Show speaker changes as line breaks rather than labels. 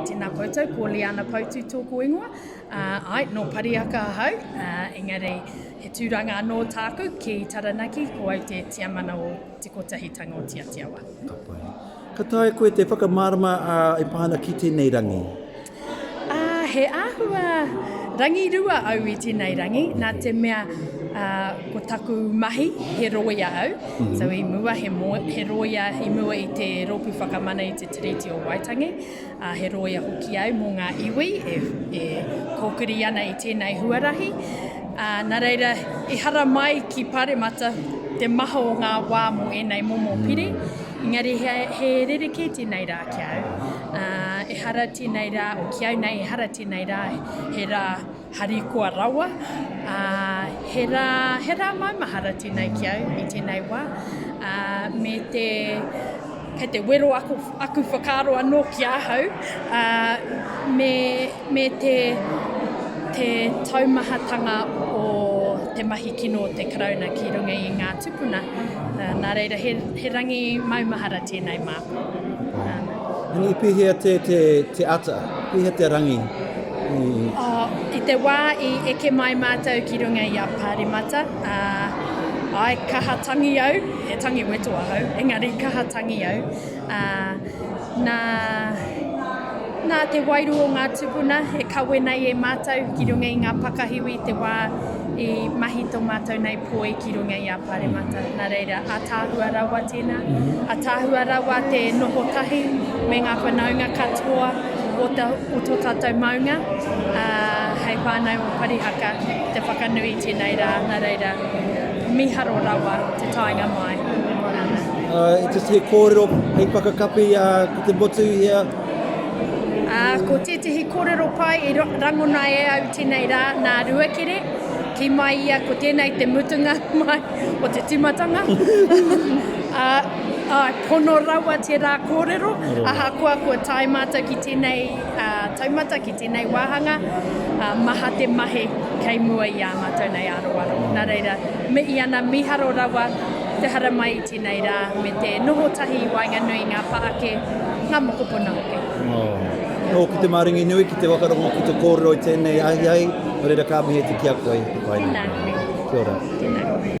Tēnā koutou, ko Liana Poutu tōku ingoa. Ai, nō Pariaka ahau, engari he tūranga anō tāku ki Taranaki, ko au te tiamana o Te Kotahitanga o Tiatiawa. Ka pai. Ka
taea koe te whakamārama e pā ana ki tēnei rangi?
he āhua rangi rua au i tēnei rangi, nā te mea uh, ko taku mahi he roia au, mm -hmm. so i mua he, mo, he roia i mua i te rōpū whakamana i te Tiriti o Waitangi, ā, he rōia hoki au mō ngā iwi e, e kōkiri ana i tēnei huarahi. Ā, nā reira, ehara mai ki Pāremata te maha o ngā wā mō ēnei momo pire, engari he, he rerekē tēnei rā ki au. Ā, ehara tēnei rā, o ki au nei, ehara tēnei rā, he rā Harikoa rawa, ā, he rā, he rā maumahara tēnei ki au i tēnei wā, ā, me te, kei te wero aku, aku whakaaro anō ki ahau, ā, me, me te, te taumahatanga o te mahi kino o te Karauna ki runga i ngā tupuna, nā reira he, he rangi maumahara tēnei mā.
Rangi i pēhea te, te, te ata, pēhea te rangi? I...
Oh, I te wā i eke mai mātou ki runga i a Pāremata, uh, ai kaha tangi au, he tangi weto ahau, engari kaha tangi au. Uh, nā, Nā te wairū o ngā tūpuna e kawe nei e mātou ki runga i ngā pakahiwi i te wā i mahi tō mātou nei poi ki runga i a Pāremata. Nā reira, ātaahua rawa tēnā. Ātaahua rawa te noho tahi me ngā whanaunga katoa o tō tātou maunga hei whānau o Parihaka ki te whakanui i tēnei rā. Nā reira, mīharo rawa te taenga mai.
I te tū kōrero hei whakakapi ki te motu i hea? Ā,
ko tētehi kōrero pai i rangona e au tēnei rā nā Ruakere, kī mai ia ko tēnei te mutunga mai o te tīmatanga. Ā, ā, pono rawa tērā kōrero, ahakoa kua tae mātou ki tēnei taumata, ki tēnei wāhanga, ā, maha te mahi kei mua i ā mātou nei aroaro. Nā reira, mihi ana, mīharo rawa te haramai i. Tēnei rā me te noho tahi i waenganui i ngā pā ake, ngā mokopuna hoki.
Ōku te maringi nui ki te whakarongo ki te kōrero i tēnei ahiahi, nō reira ka mihi atu ki a koe, e pai nei. Tēnā koe.
Kia
ora. Tēnā.